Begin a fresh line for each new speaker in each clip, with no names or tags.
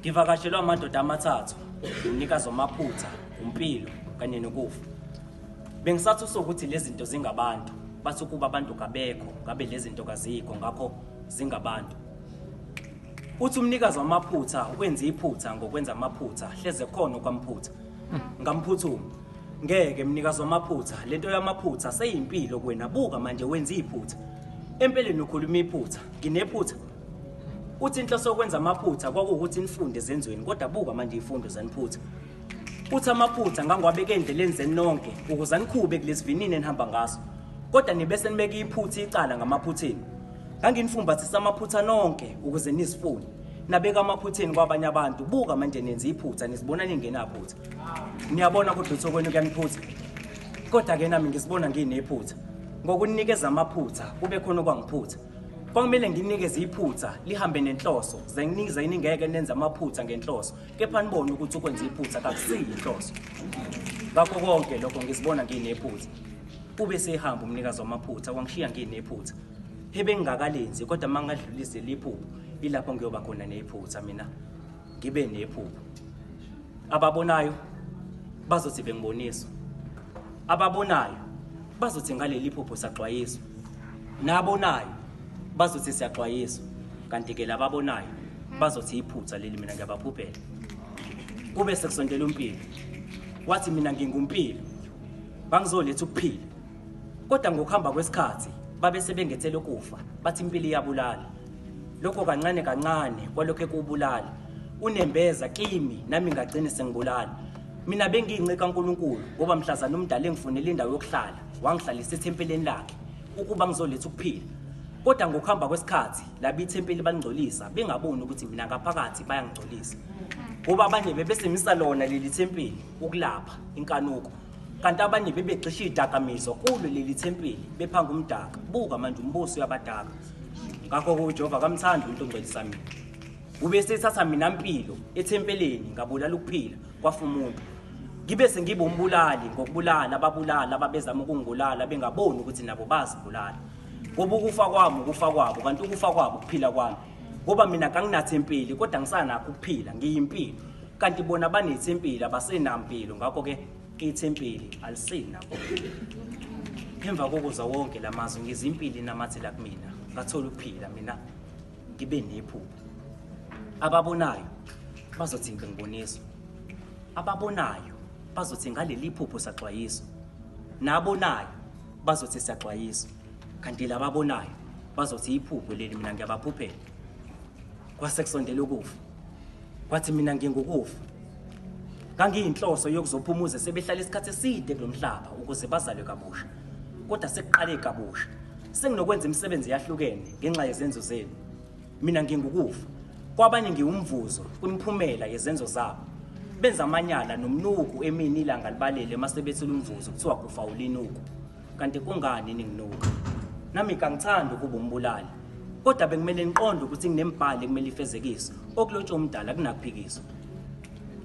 Ngivakashelwe amadoda amathathu, umnikazi wamaphutha, umpilo kanye nokufa. Bengisathi usokuthi lezi zinto zingabantu, bathi ukuba abantu kabekho, ngabe lezi zinto kazikho, ngakho zingabantu. Uthi umnikazi wamaphutha wenza iphutha ngokwenza amaphutha, hleze khona okwamphutha. Ngamphuthuma. Ngeke mnikazi wamaphutha, lento yamaphutha seyimpilo kuwena, buka manje wenza iphutha. Empeleni ukhuluma iphutha, nginephutha. Uthi inhloso yokwenza amaphutha kwakuwukuthi nifunde ezenzweni kodwa buka manje ifundo zaniphutha. Uthi amaphutha ngangiwabeke endleleni zenu nonke ukuze anikhube kulesivinini enihamba ngaso. Kodwa nibe senibeka iphutha icala ngamaphutheni. Nganginifumbathisa amaphutha nonke ukuze nizifune. Nabeka amaphutheni kwabanye abantu. Buka manje nenza iphutha nizibona ningenaphutha. Niyabona kodwa ukuthi okwenu kuyaniphutha. Kodwa ke nami ngisibona nginephutha. Ngokunikeza amaphutha kube khona okwangiphutha. Kwakumele nginikeze iphutha lihambe nenhloso, ze nginize iningeke nenze amaphutha ngenhloso, kepha nibone ukuthi ukwenza iphutha kakusiyi inhloso. Ngakho konke lokho ngizibona nginephutha. Kube sehamba umnikazi wamaphutha wangishiya nginephutha. Ebengingakalenzi kodwa mangadlulise liphupho, ilapho ngiyoba khona nephutha mina. ngibe nephupho ababonayo bazothi bengiboniswa ababonayo bazothi ngaleli phupho saxwayiswa nabonayo bazothi siyaxwayiswa kanti ke lababonayo bazothi iphutha leli mina ngiyabaphuphela kube sekusondela umpilo wathi mina ngingumpilo bangizoletha ukuphila kodwa ngokuhamba kwesikhathi babe sebengethela ukufa bathi impilo iyabulala lokho kancane kancane kwalokho ekuwubulala unembeza kimi nami ngagcine sengibulala mina bengiyince kaNkuluNkulu ngoba mhlazana umdala engifunele indawo yokuhlala wangihlalisa ethempeleni lakhe ukuba ngizoletha ukuphila kodwa ngokuhamba kwesikhathi labi ithempeli balingcolisa bengaboni ukuthi mina ngaphakathi bayangigcolisa ngoba abanye bebesemisa lona leli thempeli ukulapha inkanuko kanti abanye bebegxisha izidakamizwa kulo leli thempeli bephanga umdaka buka manje umbuso uyabadaka ngakho-ke ujehova akamthandi umuntu ongcwelisa mina ube sethatha mina mpilo ethempeleni ngabulala ukuphila kwafa umuntu ngibe sengibe umbulali ngokubulala ababulala ababezama ukungibulala bengaboni ukuthi nabo bazibulala ngoba ukufa kwami ukufa kwabo kanti ukufa kwabo ukuphila kwami ngoba mina kanginathempeli kodwa ngisanakho ukuphila ngiyimpilo kanti bona banethempeli abasenampilo ngakho ke ithempeli alisenakho emva kokuza wonke la mazwi ngizimpili namathela kumina ngathola ukuphila mina ngibe nephupho ababonayo bazothi ngibonisa ababonayo bazothi ngaleli phupho saxwayiso nabonayo bazothi siyaxwayiswa kanti lababonayo bazothi iphupho leli mina ngiyabaphuphela kwase kusondela ukufa kwathi mina ngingukufa ngangiyinhloso yokuzophumuza sebehlala isikhathi eside kulomhlaba ukuze bazalwe kabusha kodwa sekuqale kabusha senginokwenza imisebenzi yahlukene ngenxa yezenzo zenu mina ngingukufa kwabanye ngiwumvuzo kwimiphumela yezenzo zabo benza amanyala nomnuku emini ilanga libalele masebethula umvuzo kuthiwa kufa ulinuku kanti kungani ninginuka nami kangithandi ukuba umbulali kodwa bekumele niqonde ukuthi nginembhali ekumele ifezekiswe okulotshwa umdala kunakuphikiswa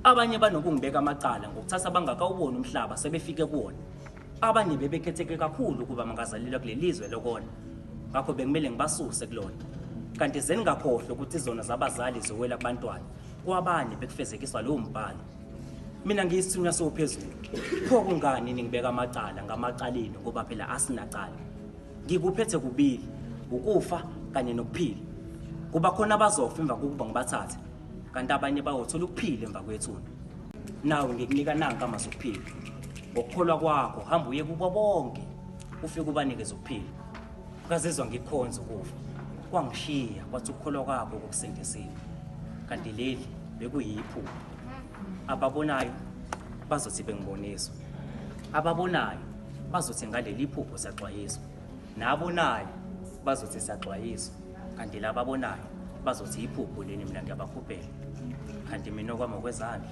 abanye banokungibeka amacala ngokuthatha abangakawuboni umhlaba sebefike kuwona abanye bebekhetheke kakhulu ukuba mangazalelwa kuleli lizwe lokona ngakho bekumele ngibasuse kulona kanti zeningakhohlwa ukuthi izona zabazali ziwela kubantwana kwabanye bekufezekiswa lowo mbhalo mina ngiyisithunywa sophezulu pho kungani ningibeka amacala ngamacaleni ngoba phela asinacala ngikuphethe kubili ukufa kanye nokuphila kuba khona abazofa emva kokuba ngibathathe kanti abanye bayothola ukuphila emva kwethuna nawe ngikunika nanka amazwi okuphila ngokukholwa kwakho hamba uye kubo bonke ufike ubanikeze ukuphila ngazizwa ngikhonza ukufa kwangishiya kwathi ukukholwa kwabo kokusindisile kanti leli bekuyiphupho ababonayo bazothi bengiboniswa ababonayo bazothi ngaleli phupho saxwayiswa nabonayo bazothi saxwayiswa kanti laba abonayo bazothi iphupho leni mina ngiyabakhuphela kanti mina okwami okwezandla